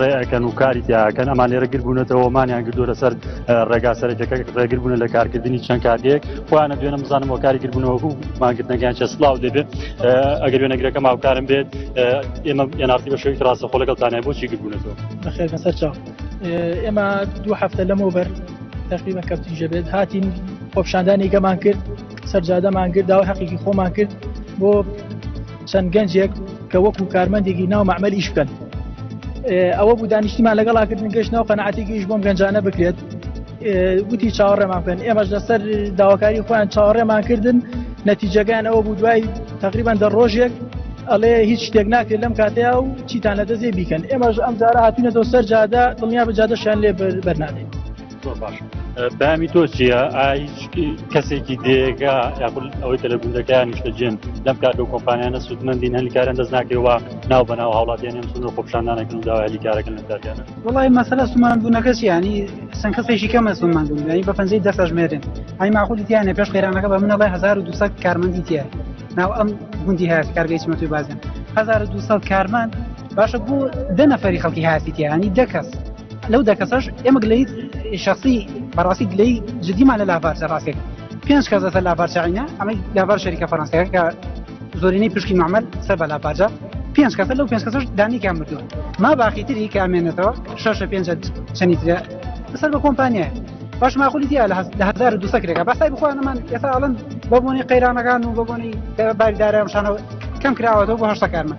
ڕێەکەن و کاری تیاکەن ئەمان لێرە گر بوونەتەوە مانیان گردو لەسەر ڕێگا سەرەکەکە ڕێگر بوون لە کارکردنی چەند کاتێک خۆیانە دوێنە بزانم و کاری گربوونەوە و ماگرتنەکەیان چە سلااو دەبێت ئەگەر وێنەگرەکە ماوکارم بێت ئێمە ئێنارتی بە شوێن ڕاستە خۆ لەگەڵ تانای بۆچی گربوونەتەوە بەخێر بەسەر چاو ئێمە دوو هەفتە لەمەوە بەر تقریبا کەفتیژە بێت هاتین خۆپشاندانی گەمان کرد سەرجادەمان کرد داوای حەقیقی خۆمان کرد بۆ چەند گەنجێک کە وەکو کارمەندێکی ناو مەعمل ئیش بکەن ئەوە بوو دانیشتیمان لەگەڵاکردن گەشت ناو قەنعاتێکی ئیش بۆم گەنجانە بکرێت وتی چاوەڕێمان بکەن ئێمەش لەسەر داواکاری خۆیان چاوەڕێمان کردن نەتیجەکان ئەوە بوو دوای تقریبان دە ڕۆژێک ئەڵێ هیچ شتێک ناکرێت لەم کاتەیە و چیتان لە دەزێ بیکەن ئێمەش ئەم جارە هاتوونەتەوە سەر جادە دڵنیا بە جادەشان لێ بەرنادێت زۆر باش بامی تۆ چییە کەسێکی دێگا یاخود ئەوەی کە لە گوندەکەیان نیشتەجێن لەم کار و کۆمپانیانە سوودمەندین هەلیکاران دەست ناکەوە ناو بە ناو هاوڵاتیان نێم سنوور خۆپشاندانەکەن و داوای هەلیکارەکەن لەداگەن وڵی مەسەلە سومان بوونەکەس ینی سن کەسێکی کەمە سومان بوون ینی بە پەنجەی دەسەژمێرن ئەی ماخودی تیانە پێش قەیرانەکە بە منەڵی 1200 کارمەندی تیە ناو ئەم گوندی هەیە کارگەی چمەتوی بازن 1200 کارمەند باشە بۆ دە نەفەری خەڵکی هاسیتیانی دەکەس لەو دە کەسەش ئێمە گلەی شخصی بەڕاستی گلەی جدیمان لە لاڤارچە ڕاستێک پێنج کەس لەسەر لاڤارچعینە ئەمەی لاڤار شەریکە فەرەنسیەکە کە زۆرینەی پشکی معمل سەر بە لاڤارجە پێنج کەسە لەو پێنج کەسەش دانیکیان مردووە ما باقی تری کە ئەمێنێتەوە شەشە پێنج چەنی ترە سەر بە کۆمپانیایە باش ماخولی دیە لە هزار دو سەکرێکە بەسای بخوانمان ئێستا ئەڵەن بەبوونی قەیرانەکان و بەبوونی باریدارە شانەوە کەم کراوەەوە بۆ هەشتەکانمان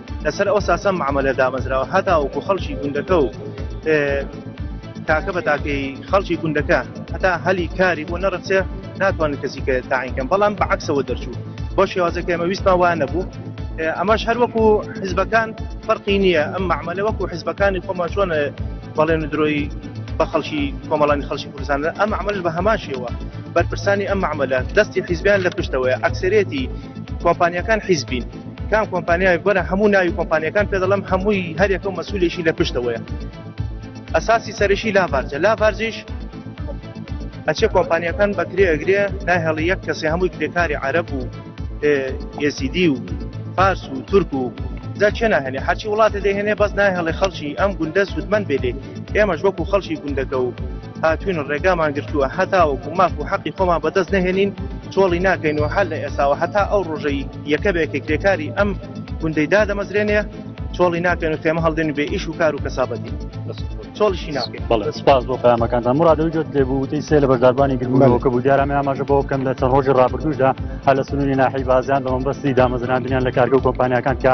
لەسەر ئەو ساسە معاملە دامەزراوە هەتاوەکو خەڵکی گوندەکە و تاکە بە تاکەی خەڵکی گوندەکە هەتا هەلی کاری بۆ نەڕچێ ناتوانن کەسی کە تاینکەم بەڵام بە عکسەوە دەرچوو بۆ شێوازەکە ئەمە ویستمان وان نەبوو ئەمەش هەر وەکو حزبەکان فەرقی نییە ئەم معمەلە وەکو حزبەکانی خۆمان چۆن بەڵێن درۆی بە خەڵکی کۆمەڵانی خەڵکی کوردستان ئەم عملش بە هەماشیەوە بەرپرسانی ئەم معمەلە دەستی حیزبیان لە پشتەوەی ئەکسرێتی کۆمپانیەکان حیزبین کام کۆمپانیای گۆرە هەموو ناوی کۆمپانیەکان پێ دەڵم هەمووی هەرێکە مەسولێکی لە پشتەوەیە ئەساسی سەرشی لاڤارجە لاڤارجیش ئەچێ کۆمپانیەکان بەکرێ ئەگرێ ناهێڵی یەک کەسێ هەمووی کرێکاری عرب و ئێزیدی و فارس و تورک و جا چێ ناهێنێ هەرچی وڵاتە دەهێنێ بەس ناهێڵێ خەڵکی ئەم گوندە سوودمەند بێ لێ ئێمەش وەکو خەڵکی گوندەکە و هاتوین و ڕێگامان گرتووە هەتاوەکو ماف و حەقی خۆمان بەدەست نهێنین چۆڵی ناکەین و هەر لە ئێساوە هەتا ئەو ڕۆژەی یەکە بێکێک کرێکاری ئەم گوندەی دادەمەزرێنێ چۆڵی ناکەن و خێمە هەڵدێن بێ ئیش و کار و کەسابەتی چۆڵشی ناکەین بەڵێ سپاس بۆ پامەکانتان مرادەوەی جۆت لێ بووتی سێ لە بەرداربانی گرمەوەکە بوو دیارامە ئاماژە بەوە بکەم لە چەند ڕۆژی ڕابردوشدا هە لە سنووری ناحی بازیان بە مەبەستی دامەزراندنیان لە کارگە و کۆمپانیەکان کە